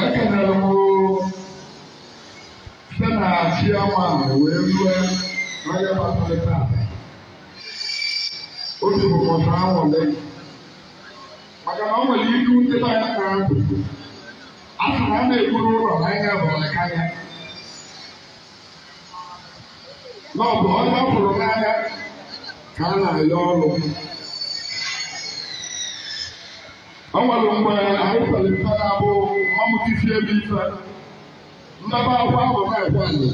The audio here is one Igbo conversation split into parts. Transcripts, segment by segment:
ekelere m site na chairman wee rue n'onye kasị nta obi bụ m sọ aṅụrị maka na ọ nwere ilu ndị be anyị na-atụ a sị na a na-egburu ụlọ n'anya bụ aka ya na ọ bụ onye ọ fụrụ n'anya ka a na-ayọ ọrụ O nwere mgbe anyị kwere mfe na-abụ mamụtifie ebe ife mmebe akwa ahụ na-ekwe anyị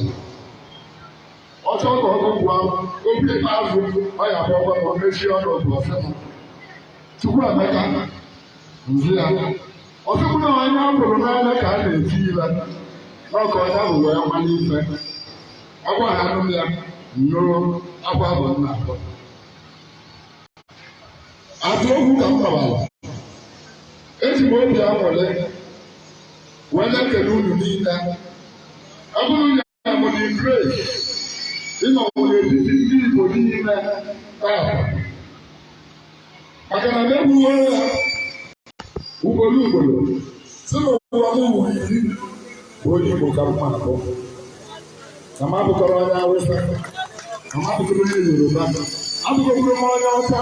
ọ chọọ ka ọgụ gwa obi ikpeazụ ọ ya bụ ọgwa ma o mechie ọnụ otu ọ sị m Chukwuemeka m za ya ọ sị m na onye a hụrụ n'anya ka a na-eti ile n'ọka onye ahụ wee nwa n'ife agwa ha anụ ya nnụrụ akwa bụ nna akwa atụ okwu ka m gbawara eji m obi aṅụrị wee na-ekele unu niile ọ bụrụ na ya mụ dị great ịnọ n'etiti ndị Igbo niile taa maka na na-ekwuwe ya ugboro ugboro sị n'ụwa m ụwa iri bụ onye Igbo ka m ma-abụ na m abụkọrọ onye Awụsa na m abụkọrọ onye Yoruba abụkọrọ m onye Ọcha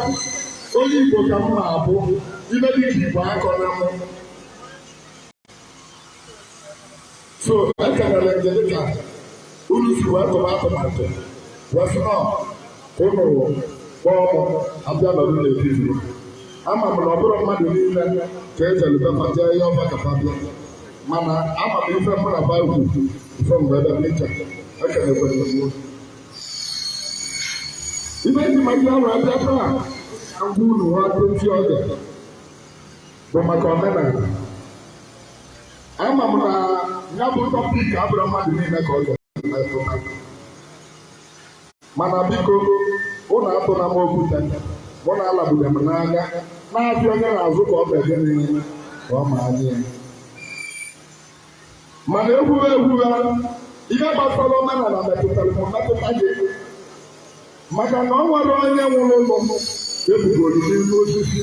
onye Igbo ka m ma-abụ ife dịka Igbo akọna mụ so ekelere m gị dịka unu si wee tụba atụmatụ wee sị na ụnụ kpọọ mụ abịa nọrọ n'etiti ama m na ọ bụrọ mmadụ niile ka e jere be fa jee yọba ka fa bịa mana ama m ife mụ na baịbụl ife mgbe ebe m iche ekelekwere m unu ibe ji ma ndị ahụ abịa taa agwa unu ha dozi ọdị bụ maka omenala ama m na ya bụ topic abụrọ mmadụ niile ka ọ ga-emetụta mana biko unu atụla m okwute mụ na alabuga m n'anya na-abịa onye na-azụ ka ọ ga-ege n'ime ka ọ ma anya ya mana ekwube ekwube ihe gbasara omenala metụtara m metụta gị maka na o nwerọ onye nwụrụ ọnwụ e bugoro n'elu osisi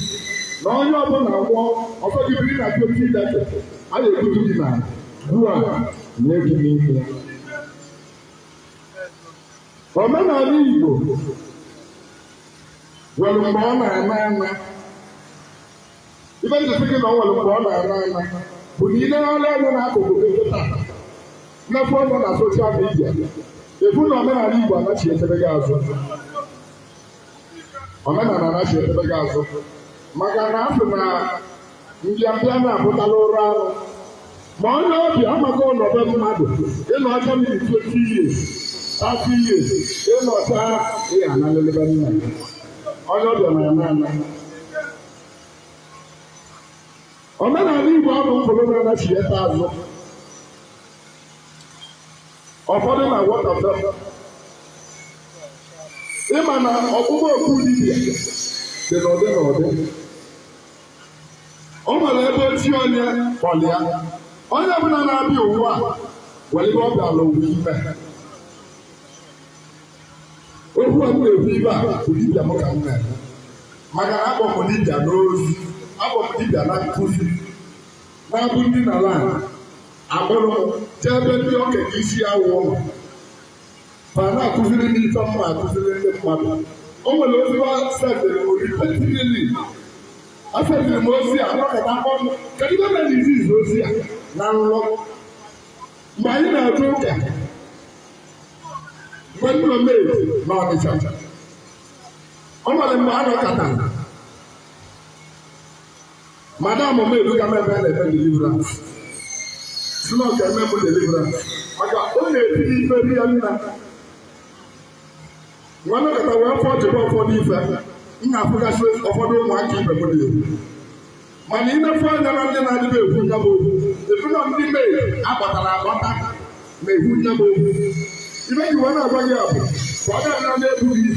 na onye ọbụla nwụọ ọ sọ gị biri na twenty decking a na-ebutu gị na gwuo ana nie gị n'ime omenala Igbo nwere mgbe ọ na-ana ana ife m ji si gị na o nwere mgbe ọ na-ana ana bụ na i leruo anya n'akụkụ gị kịta mmefu ọnụ na soshal midia ị fụ na omenala Igbo anachietebego azụ omenala anachietebego azụ maka na a sị na mbịambịa na-apụtala ụra anụ ma onye ọbịa amaka ị nọ be mmadụ ị nọcha ma 20 years 30 years ị nọcha ị ga-analịlị be nna onye ọbịa na-ana ana omenala Igbo a bụ ụfọdụ na-anachiete azụ ụfọdụ na-awọta ife ị ma na ọkpụkpọ oku dibia dị n'ụdị n'ụdị o nwere ebe chi onye kpọlụ ya onye ọbụla na-abịa ụwa nwere ife ọ bịara ụwa ime okwu a m na-ekwu ife a bụ dibịa m ka m na-eme maka na akpọ m dibịa n'ozi akpọ m dibịa na nkụzi na-abụ m dina ala a kpọrọ m jee ebe ndị okenye isi awọ nọ fa ana-akụziri m ife m ma akụziri ndị mmadụ o nwere ozi fa sendịrị m repeatedly a sendịrị m ozi a nọkata mkpọm kedu ife mere e ji ezi ozi a na nlọ mgbe anyị na-atụ ụka mgbe ndị nọ mee na ọnịcha o nwere mgbe a nọkata madam m ebuga m ebe a na-eme deliverance sị na ọ ga-eme m deliverance maka ọ na-etinye ife ya nna wee nọkata wee fụchabe ụfọdụ ife m na-afụgasị ụfọdụ ụmụaka ibe m na-ekwu mana i nee fa anya na ndị na-adịbe ekwu nya bụ okwu ị fụ na ndị maid a kpọtara akpọta na-ekwu nya bụ okwu ife m ji wee na-agwa gị a bụ ka ọ ga-adịra na-ebu gị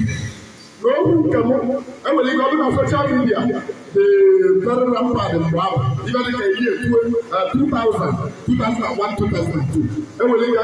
na okwu nke m enwere ike ọ bụrụ na soshal midia dị very rampant mgbe ahụ ife dị ka year 2000 2001 2002 enwere ike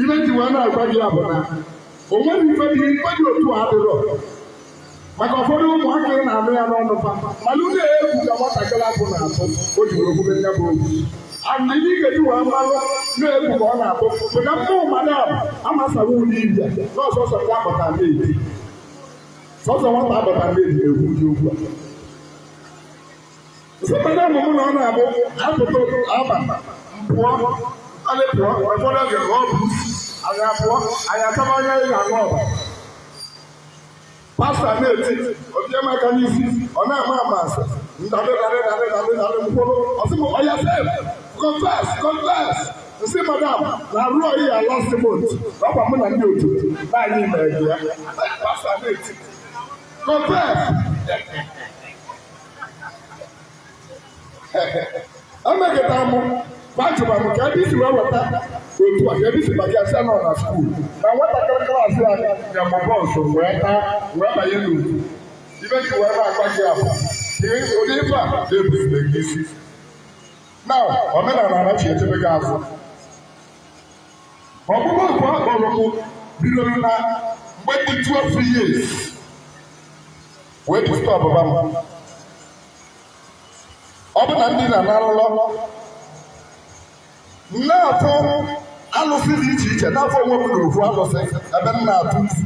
ife m ji wee na-agwa gị ya bụ na o nweghị ife dị ife dị otu a dịrọ maka ụfọdụ ụmụaka ị na-anụ ya n'ọnụ fa malụ na egwu ka nwatakịrị afụ na-atụ o ji wee kwube ya bụ okwu and ihe ị ga-eji wee malụ na egwu ka ọ na-atụ bụ na ụmụ madam amasaghị ụlọ ife a na sọsọ nwa a kpọta maid sọsọ nwata a kpọta maid na-ekwu ụdị okwu a sọpụta ụmụ m na ọ na-abụ a pụta abalị m pụọ alị pụọ ụfọdụ oge ọ bụ anyị apụọ anyị ataba onye anyị na-aṅụ ọbara pasta na-eti o tie m aka n'isi ọ na-ama ama asị ndadị dadị dadị dadị dadị mkpụrụ ọ sị m oya confess confess confess m sị madam na-arịa ọyịa last month na ọkwa mụ na ndị otu anyị mere ya pasta na-eti confess emekọtara m gbajụba m ka ebe i si wee weta otu a ka ebe i si bata ya sị nọ na skuul na nwatakịrị klaasị a ya ma bọọsụ wee taa wee banye n'otu ibe gị wee na-agwa gị abụ ihe onye ife a na-ebuzile gị isi na omenala anachi echebe gị azụ ọ bụrụ oku a kpọrọ m bidoro na mgbe m dị 12 years wee pụta ọbụba m ọ bụ na m dina na-arọ nrọ na-afụ alụsị dị iche iche na-afụ onwe m na ofu alụsị ebe m na-atụ isi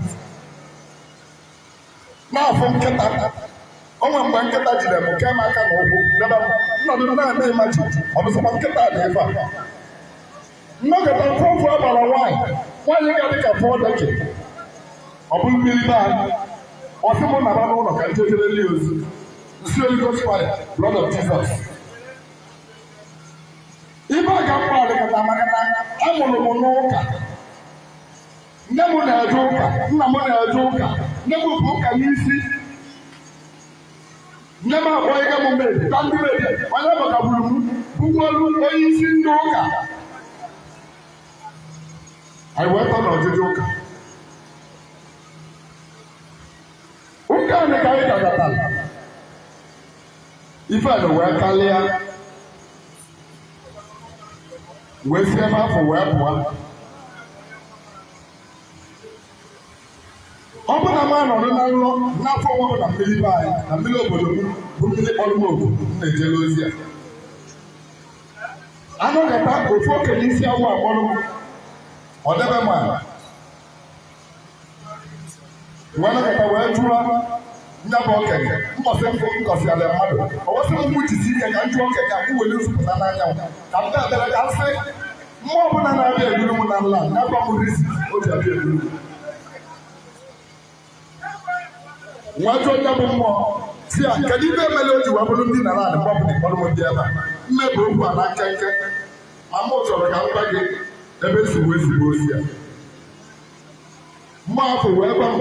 na-afụ nkịta o nwere mgbe nkịta jide m kee m aka na ụkwụ debe m m nọdụ na-eme imagine ọ bụzịkwa nkịta dị ebe a m nọkata m fụ ofu agbara nwaanyị nwaanyị a dị ka goddess ọ bụ mmiri be anyị ọ sị mụ naba n'ụlọ ka m jejere ndị ozi m sị holy ghost fire blood of jesus ife a ga mkpa adịkọta maka na a mụrụ m n'ụka nne m na-eje ụka nna m na-eje ụka nne m bu ụka n'isi nne m abụọ ịga m mbe ka ndị mary onye gbatagburu m bụkwalụ onye isi ndị ụka anyị wee tọ n'ọjụjụ ụka ụka anyị ka anyị gagatara ife a wee kalịa wee sie m afọ wee pụọ ọ bụ na m anọrọ na nrọ na-afụ onwe mụ na mmiri be anyị na mmiri obodo m bụ mmiri kpọrọ m oku m na-ejere ozi a nọkata ofu okenye isi awọ akpọrọ m o debe m ala wee nọkata wee jụọ nya bụ okenye mbọsị mbụ m kọsịara mmadụ o wee sị m mụ jisi ike ka m jụọ okenye a ka m were nzupụta n'anya m ka m na-abịara ka m sị mmụọ ọbụla na-abịa eburu m na nlọ ya gwa m isi o ji abịa eburu m m wee jụọ nya bụ mmụọ sị ya kedu ife mele o ji wee bụrụ m dinara adị mgbapụ dị kpọrọ m ndị ebe a m mebe okwu a na nkenke ma mụ chọrọ ka m gwa gị ebe si wee zigbo ozi ya mgbe afụ wee gwa m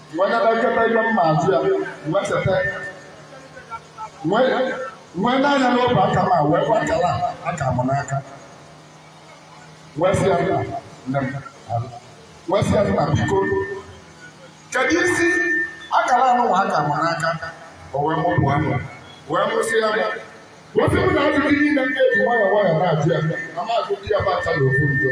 wee na-echeta ife m ma ajụ ya wee cheta wee nee anya n'obu aka m a wee gwa akara aka m n'aka wee sị ya nna nne m alụ wee sị ya nna biko kedu isi akara anụnwa aka m n'aka o wee mụpụ amụ wee mụsịa wee sị m na ajụjụ niile m ga-eji nwayọọ nwayọọ na-ajụ ya na m ajụ di ya bụ acha na ofu njọ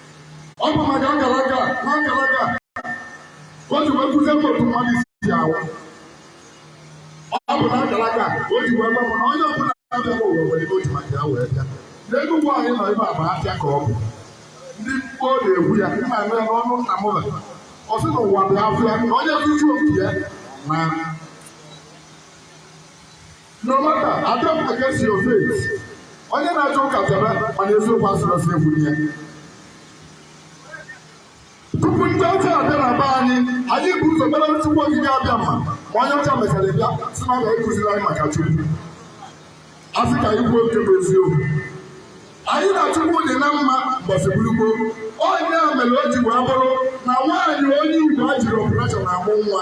ọ bụ maka akara aka na akara aka o ji wee kụzie m otu mmadụ si anwụ ọ bụ na akara aka o ji wee gwa m na onye ọbụla na-abịa n'ụwa nwere ife o ji maka ya wee bịa n'elu ụwa anyị nọ ebe a bụ afịa ka ọ bụ ndị mkpọ na-egwu ya nna nne ya n'ọnụ nna m ụlọ ọ sị na ụwa bụ afịa na onye tuju obi ya na No matter, I don't against your faith. Onye na-achọ ụka chebe mana eziokwu asịrị ọsọ egwu nye. Tupu ndị ọcha abịa na be anyị, anyị bu ụzọ mara Chukwu Okike Abịama ma onye ọcha mechara bịa sị na ọ ga-ekụziri anyị maka Chukwu. A sị ka anyị kwuo nke bụ eziokwu. Anyị na Chukwu dị na mma mbọsị bụrụ gboo. Ọ nya mere o ji wee bụrụ na nwaanyị onye Igbo ejirọ operation amụ nwa.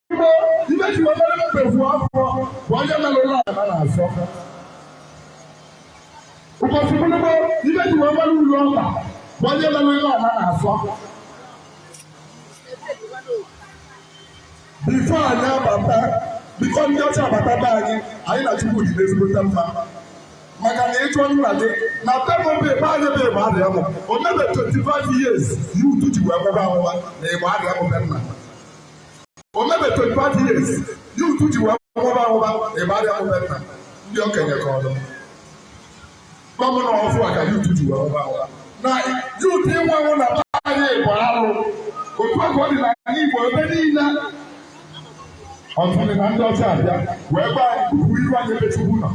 before anyị abata before ndị ọcha abata be anyị anyị na chukwu dị n'ezigbote mma maka na ịchọ nna gị na tebụl bụ ebe anyị bụ Igbariam o mebe 25 years youth ji wee nwụba anwụba na Igbariam be nna o mebe 25 years youth ji wee nwụba anwụba Igbariam be nna ndị okenye ka ọdụ gọvanọ ọfụ a ka youth ji wee nwụba anwụba na youth ịnwụ ọnwụ na be anyị bụ arụ otu a ka ọ dị n'anị igbo ebe niile tutu na ndị ọcha abịa wee gbanwee iru anyị ebe chukwu nọ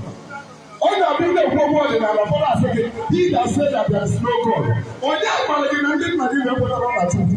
ọ na-abụ ndị ekwu okwu ọdịnala ụfọdụ asị gị he that said that there is no God onye gwara gị na ndị nna gị na-ekwetarọ na chukwu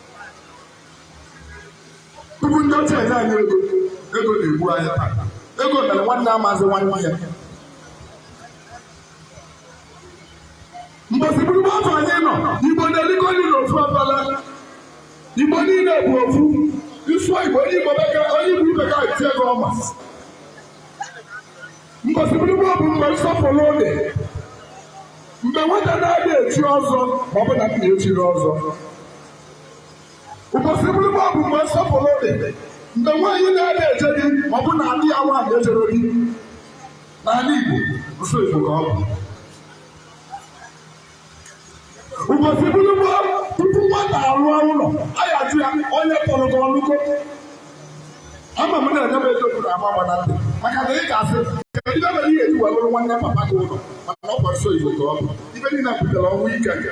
tupu ndị ọcha enye anyị ego ego na-egbu anyị taa ego mere nwanne amazị nwanne ya mbọsị bụrụ gboo otu anyị nọ igbo na-elikọ nri n'ofu afele igbo niile bụ ofu ị sụọ igbo onye igbo ibe gị etie gị ọma Mbọsị bụrụ gboo bụ mgbe nsọpụrụ dị mgbe nwata na-adị echi ọzọ ma ọ bụ na nna echirọ ọzọ ụbọchị bụrụ gboo bụ mgbe nsọpụrụ dị mgbe nwaanyị na-adị eje di ma ọ bụ na ada ya nwaanyị ejerọ di n'ala Igbo nsọ Igbo ka ọ bụ ụbọchị bụrụ gboo tupu nwata arụọ ụlọ a ya-ajụ ya onye tọrọ gị ọ rụgo ama m na-enye m ego bụrụ agba gbara ntị maka na ị ga-asị kedu ife mere ị ya-eji wee bụrụ nwanne papa gị ụlọ maka na ọ kwa nsọ igbo ka ọ bụ ife niile butere ọnwụ ike nke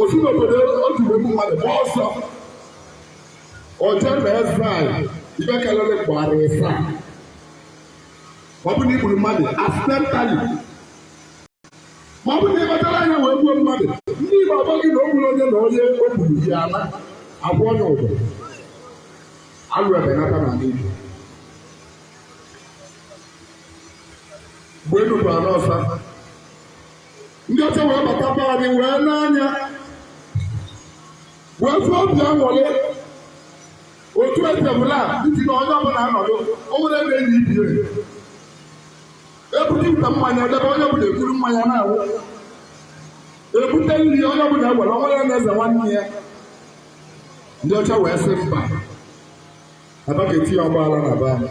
o si n'obodo otu mgbe mmadụ gba ọsọ o je exile ibe kelele gba arọ ịsa ma ọ bụ na i gburu mmadụ accidentally ma ọ bụ na ị kpachara anya wee gbuo mmadụ ndị Igbo agwa gị na o gburu onye na onye o gburu yi ala akwụnye ụdọ alụ ebenata n'anị Igbo mgbe enu bụ ana ọsa ndị ọcha wee bata be anyị wee nee anya wee fụ obi anwụlị otu etebụla ntị na onye ọbụla anọdụ o nwere ebe enyi ibie ebute ite mmanya edebe onye ọbụla ekuru mmanya na-aṅụ ebute nri onye ọbụla ewere onwe ya na-eze nwanne ya ndị ọcha wee sị mba abake tinye ọgbaghara na be anyị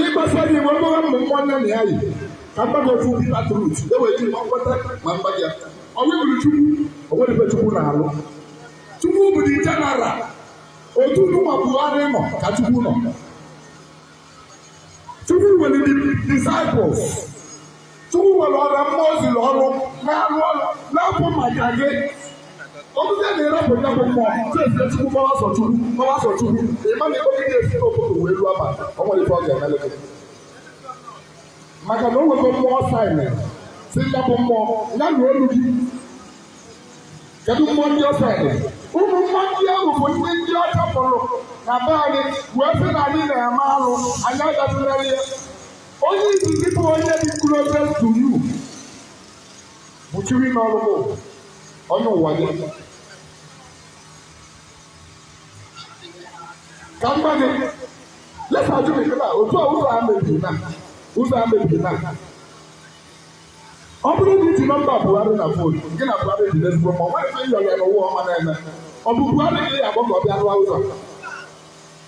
ịgbasa anyị wee mara mmụ nwa nne na ya yi ka m gwa unu ofu bitter truth e wee jiri mkpọta ma mba ya ọ bụrọ chukwu o nwerọ ife chukwu na-alụ chukwu bụ the general otu nụwa Buhari nọ ka chukwu nọ Chukwu nwere disciples Chukwu nwere ụmụ mmụọ ozi na ọrụ na-arụ ọrụ na-abụ maka gị ọ bụzie na ị rapụ ya bụ mmụọ chesi Chukwu gbara ọsọ Chukwu gbara ọsọ Chukwu ị ma na ego gị ga-esi n'obodo wee ruo Aba o nwerọ ife ọ ga-emele gị maka na o nwego mmụọ ọ assign sị ya bụ mmụọ ya na olu gị Kedu mmụọ ndị ọ assign? Ụmụ mmụọ ndị ahụ bụ ndị ndị ọcha kagburu na be anyị wee sị na anyị na-eme alụ anyị agatụlere ya. Onye izizi bụ onye dị closest to you bụ chi gị nọrụ bụ onye ụwa gị. Ka m gwa gị let's assume otu a ụzọ a mebiri na ụzọ a mebiri na ọ bụrụ na i ji nọmba Buhari na fon gị na Buhari dị n'ezigbo mma o nwerọ ife ị yọrọ ya n'ụwa ọ ma na-eme ọ bụ Buhari ka ị ga-akpọ ka ọ bịa rụọ ụzọ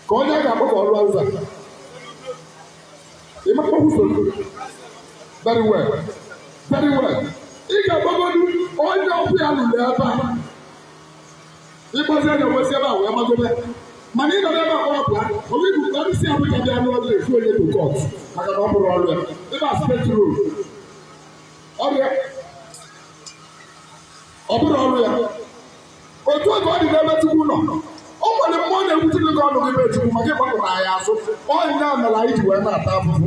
ka onye a ga-akpọ ka ọ rụọ ụzọ ị makwa usoro very well very well ị ga-akpọgodu onye ọ bụ ya lụrụ ebe a ị kpọzie ya e wee si ebe a wee magobe mana ị nọrọ ebe a kpọrọ Buhari ibu ka o si Abuja bịa n'ụlọ gị efu onye to court maka na ọ bụrọ ọrụ ya ebe a state road ọ bụrọ ọrụ ya otu a ka ọ dị n'ebe chukwu nọ o nwere mmụọ na-ewute gị ọnụ gị be chukwu maka ịgbakụta ya azụ ọ nya mere anyị ji wee na-ata afụfụ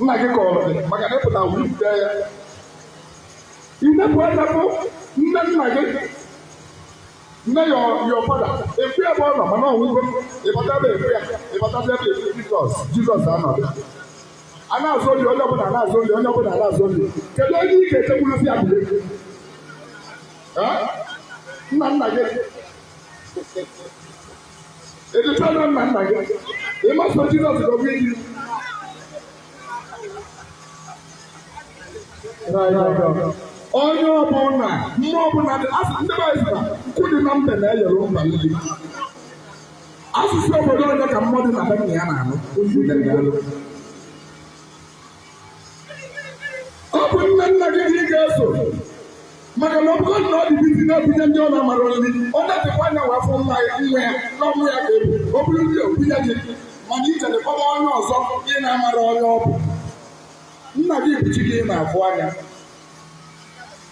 nna gị kọrọ gị maka na ị pụta wulite ya i nepụ anya fụ nne nna gị nne your father ị fụ ebe ọ nọ mana ọ nwụgo ị bata ebe ị fụ ya ị bata ebe ị fụ jizọs jizọs anọdụ a na-azụ oli onye ọbụla na-azụ oli onye ọbụla na-azụ oli kedu onye ị ga-ejekwuru sị abụle nna nna gị Edutana nna nna gị. Ị ma eso Jizọs gọbụ iji. Onye ọbụla, mmụọ ọbụla dị, asị ndị be anyị sị na nkụ dị na mba na-eyere mba nri. Asụsụ obodo onye ka mmụọ dị na be nna ya na-anụ? Udene. ọ bụ nne nna gị ka ị ga-eso maka na ọ bụrụ na ọ dị busy na-ebunye ndị ọ na-amara nri o netekwa anya wee fụ nwa ya nwa ya na ọ bụ ya ka ebu o buru nri o bunye gị mana i jere kpọba onye ọzọ ị na-amara onye ọ bụ nna gị bụ chi gị ị na-afụ anya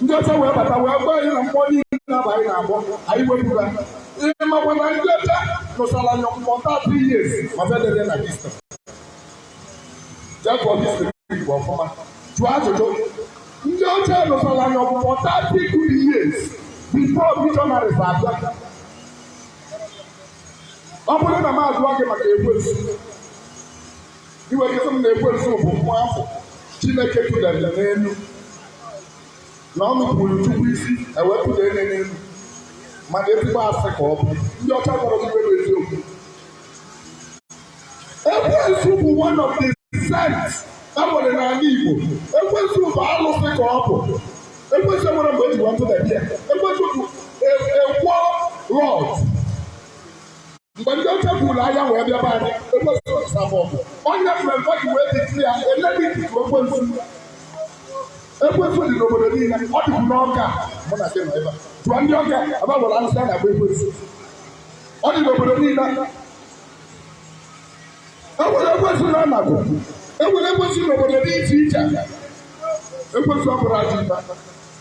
ndị ọcha wee bata wee gwa anyị na mmụọ niile na be anyị na-agọ anyị wepụga ị makwa na ndị ọcha nụsara anyị ọgụ for thirty years ma fa ederọ na history jee gụọ history igbo ọfụma jụọ ajụjụ ndị ọcha nụsara anyị ọgụ for thirty years before missionaries abịa ọ bụrụ na m ajụọ gị maka ekwensu i wee sị m na ekwensu bụ mmụọ afụ chineke tụdara n'elu na o nupuru chukwu isi e wee tụda ya n'elu mana ezigbo asị ka ọ bụ ndị ọcha gwara m iwe n'eziokwu ekwensu bụ one of the saints e nwere n'ala igbo ekwensu bụ alụsị ka ọ bụ ekwensu nwere mgbe eji wee tụda ya ekwensu bụ a war lord mgbe ndị ọcha buru agha wee bịaba anyị ekwensu nụsa fa ọgụ onye mmemme ji wee dịtụ ya eliminate ekwensu ekwensu dị n'obodo niile ọ dịbụ n'ọka mụ na gị nọ ebe a jụọ ndị ọka ebe a gwara arụsị a na-akpọ ekwensu ọ dị n'obodo niile enwere ekwensu na anaku enwere ekwensu n'obodo dị iche iche ekwensu ọ bụrụ ajọ ife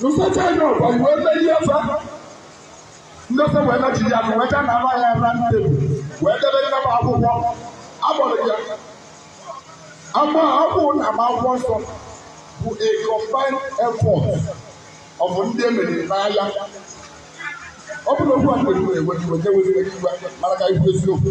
Nụsacha anyị ọgụ anyị wee melie fa. Ndị ọcha wee nachiri ya wee gaa na ala ya na table wee debe nne m akwụkwọ. Agbọrọ ya. Ama akwụ na ama akwụkwọ nsọ bụ a combined effort of ndị e meriri n'agha ọ bụrọ okwu a na-ekwu na-ewe iwe na-ewe iwe mana ka ikwu eziokwu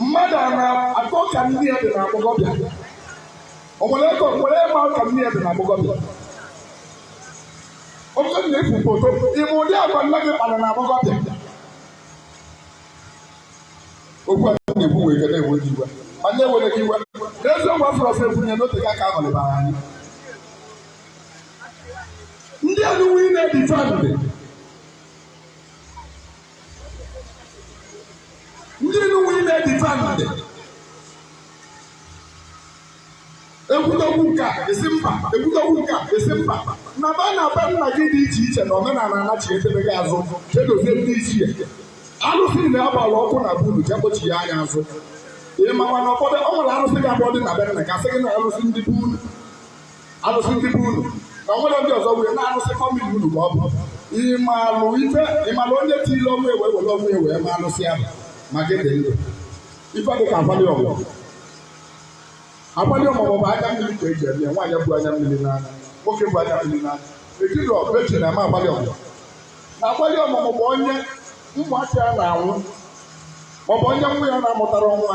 mmadụ a na-akọ ka nne ya dị na agbọghọbịa o nwere ego nwere ịma ka nne ya dị na agbọghọbịa oke na efu foto ịma ụdị agwa nne gị kpara na agbọghọbịa okwu a na-ekwu nwere ike na-ewe gị iwe ma ndị ewere gị iwe n'eziokwu afọ ọsọ ekwunye n'otu ka ka abalị bara anyị ndị enuwe ị na-edifendị ndị nwe ime difendị ekwutokwu nke a esi mba ekwutokwu nke a esi mba na-aba na be nna gị dị iche iche na omenala anachi edebe gị azụ kedụzie ndị ichie alụsị na-agbara ọkụ na buru jekpochi ya anya azụ ị makwa na ụfọdụ ọ nwere arụsị ga-abụ dị na be nna gị a sị gị na arụsị ndị be unu arụsị ndị be unu na nwere ndị ọzọ wee na-arụsị famili unu ka ọ bụ ịmalụ ife ịmalụ onye tiri ọnwụ ewe were ọnwụ ewe ma arụsị ahụ ma gị dị ndụ ife dị ka akwalị ọmụmụ akwalị ọmụmụ bụ anya mmiri ka eji eme nwaanyị bụ anya mmiri n'anya nwoke bụ anya mmiri n'anya ejiri ọbụ eji na-eme akwalị ọmụmụ na akwalị ọmụmụ bụ onye ụmụaka ya na-anwụ maọbụ onye nwa ya na-amụtarọ nwa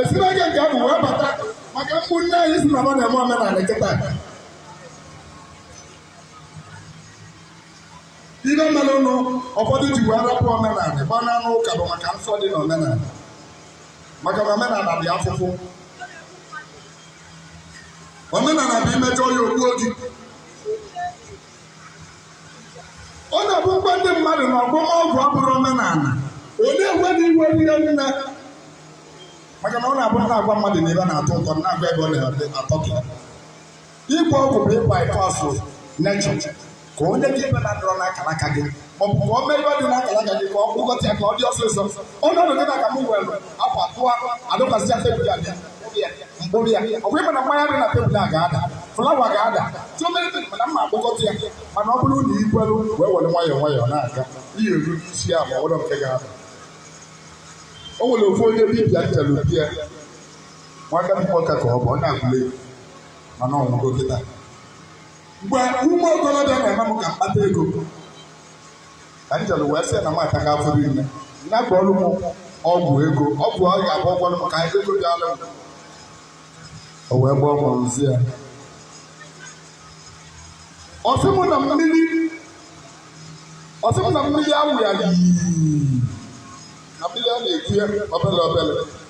esiri ege nke ahụ wee bata maka ụmụnne anyị sị na ọ na-eme omenala kịta ife mere unu ụfọdụ ji wee rapụ omenala gba n'ụnọ ụka bụ maka nsọ dị na omenala maka na omenala dị afụfụ omenala bụ imejọ ya o gbuo gị ọ na-abụ m gwa ndị mmadụ na ọgwọ ọgwụ abụrọ omenala ọ na-ewe ha iwe ihe nne maka na ọ na-abụ na agwa mmadụ na ife na-atọ ụtọ na-agwa ebe ọ na-atọ gị ịgwọ ọgwụ bụ ịgba ịkọ asụ na-achọ ka o nye gị ife na-adịrọ n'akara aka gị ma ọ bụ ka ọ mee ife dị n'akara aka gị ka ọ kpụkọta ya ka ọ dị ọsịsọ ọnọdụ gị na ka m were akwa tụọ adọkwasịa tebụl a bịa m kpụrụ ya ọ bụ ịma na mmanya dị na tebụl a ga-ada flawa ga-ada chọmere mana mma akpụkọta ya mana ọ bụrụ na ikwelu wee were nwayọọ nwayọọ na-aga ị ya-eru n'isi ya ma ọ dịrọ nke ga-ada o nwere ofu onye dibịa m jelu be ya nwaka bikọta ka ọ bụ na Agụlụ mana ọ nwụgo kịta mgbe ụmụ okorobịa na-eme m ka m kpata ego ka m jere wee sị na m ataka afụfụ niile ya gwọọrọ m ọgwụ ego ọgwụ ọ ga-abụ ọ gwọọrọ m ka ego bịalụ m o wee gbaa ọgwụ nzi ya ọ sị m na mmiri ọ sị m na mmiri awụ ya yii na mmiri a na-eku ya obere obere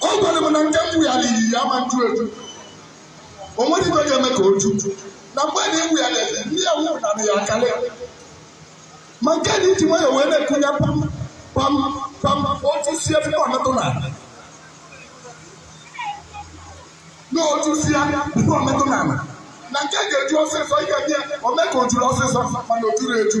ọ gwara m na nke mbụ ya na iyi ya ma njụ eju o nwerọ ife ga-eme ka o ju na mgbe na ewu ya na-ede ndị ya wụ na ya akarị ma nke e ji nwayọ wee na-ekunye pam pam pam otu si ebe ọ metụ na na otu si ya ebe ọ metụ na ala na nke ga-eju ọsịsọ ị ga-abịa o mee ka o juru ọsịsọ mana o juru eju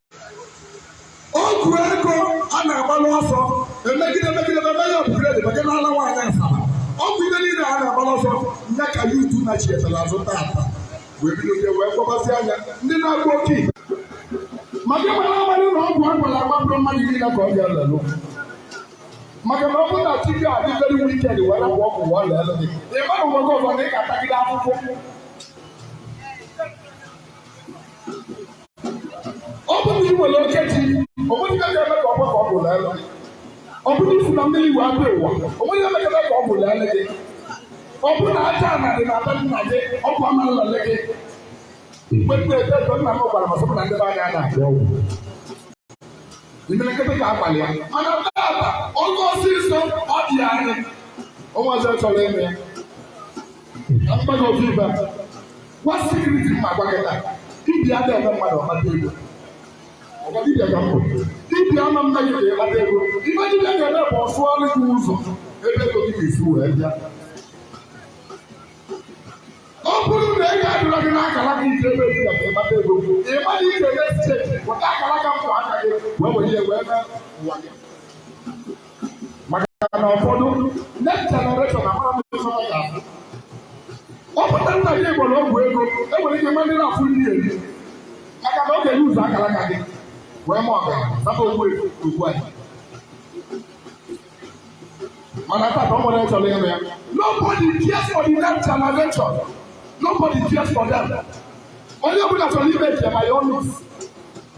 ọgwụ ego a na-agbalụ ọsọ emegide emegide ebe ya ọbụgide dị maka n'ala nwaanyị asaba ọgwụ ihe niile a na-agbalụ ọsọ ya ka youth nachighatara azụ tata wee bido je wee kpọbazi anya ndị na-agwọ oke ite maka ịgbara agbalị na ọgwụ a gwara agbapụrụ mmadụ niile ka ọ bịa lelụ maka na ọ bụrụ na chi gị adị very wicked wee rapụ ọgwụ ọ lelụ gị ị mara ụwa gị ọzọ na ị ga-atagide akwụkwọ ọ bụrụ na ị nwere oke chi o nwerọ ife ga-eme ka ọgwụ ka ọgwụ lelụ ọ bụrụ na i fu na mmiri wee bịa ụwa o nwerọ ife ga-eme ka ọgwụ lelụ gị ọ bụrụ na aja ana dị na be nna gị ọgwụ ama lelụ gị mgbe m na-eto eto nna m gwara m sị m na ndị be anyị anaghị agba ọgwụ imelekete ka abalị ya mana taata ọgwụ ọsịsọ ọ dị anyị ụmụazị chọrọ ime ya na mmadụ otu ife a wụ secret m ma-agwa gị taa dibịa ada eme mmadụ ọ kpata ego ọ kwa dibịa ka m bụ dibịa ama eme gị ka ị kpata ego ife dibịa ga-eme bụ ọ sụọrụ gị ụzọ ebe ego gị ga-esi wee bịa ọ bụrụ na ego adịrọ gị n'akara aka ị jee ebe dibịa ka ị kpata ego ị ma na ị ga-eme steeti weta akara aka ụmụaka gị wee were ihe wee mee ụwa gị maka na ụfọdụ next generation amarọ m ife ọ ga-abụ ọ bụrụ na nna gị gbara ọgwụ ego i nwere ike nwe ndị na-afụ nri eri maka na ọ ga-enye ụzọ akara aka gị wee baa ọgaranya zaba ogbu ego ugbu a mana tata nobody chọrọ ịrụ ya nobody cares for the next generation nobody cares for them onye ọbụla chọrọ ime njem ayọ ọnụ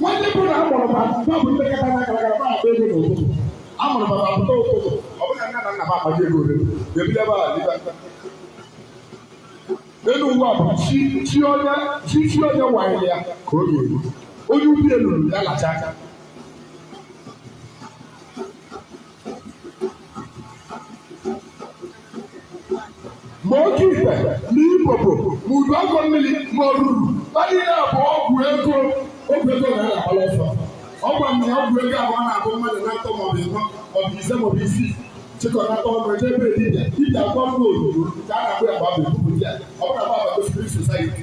nwanne bụ na amụrụ ma mgbe bụ ndị kata na kalakara ma akpa ego n'ụtụtụ amụrụ ma apụta ụtụtụ ọ bụla nna na nna m akpaji ego ole ga-ebido ebe a dịba elu ụwa bụ chi chi onye chi chi onye wanyere ya ka ọ ga-eri onye ube luuru ya lacha aka ma oke ite na ibobo ma udu akọ mmiri ma oruru ha niile a bụ ọgwụ ego ọgwụ ego a na-agbalụ ọsọ ọ gwa m na ọgwụ ego ahụ na-abụ mmadụ na atọ maọbụ ịnọ maọbụ ise maọbụ isii chịkọnata ọnụ eje ebe dibịa dibịa akwa mma obodo ka a na-akpụ ya gba bụ ebubu ya ọ bụrụ na gba bụ spirit society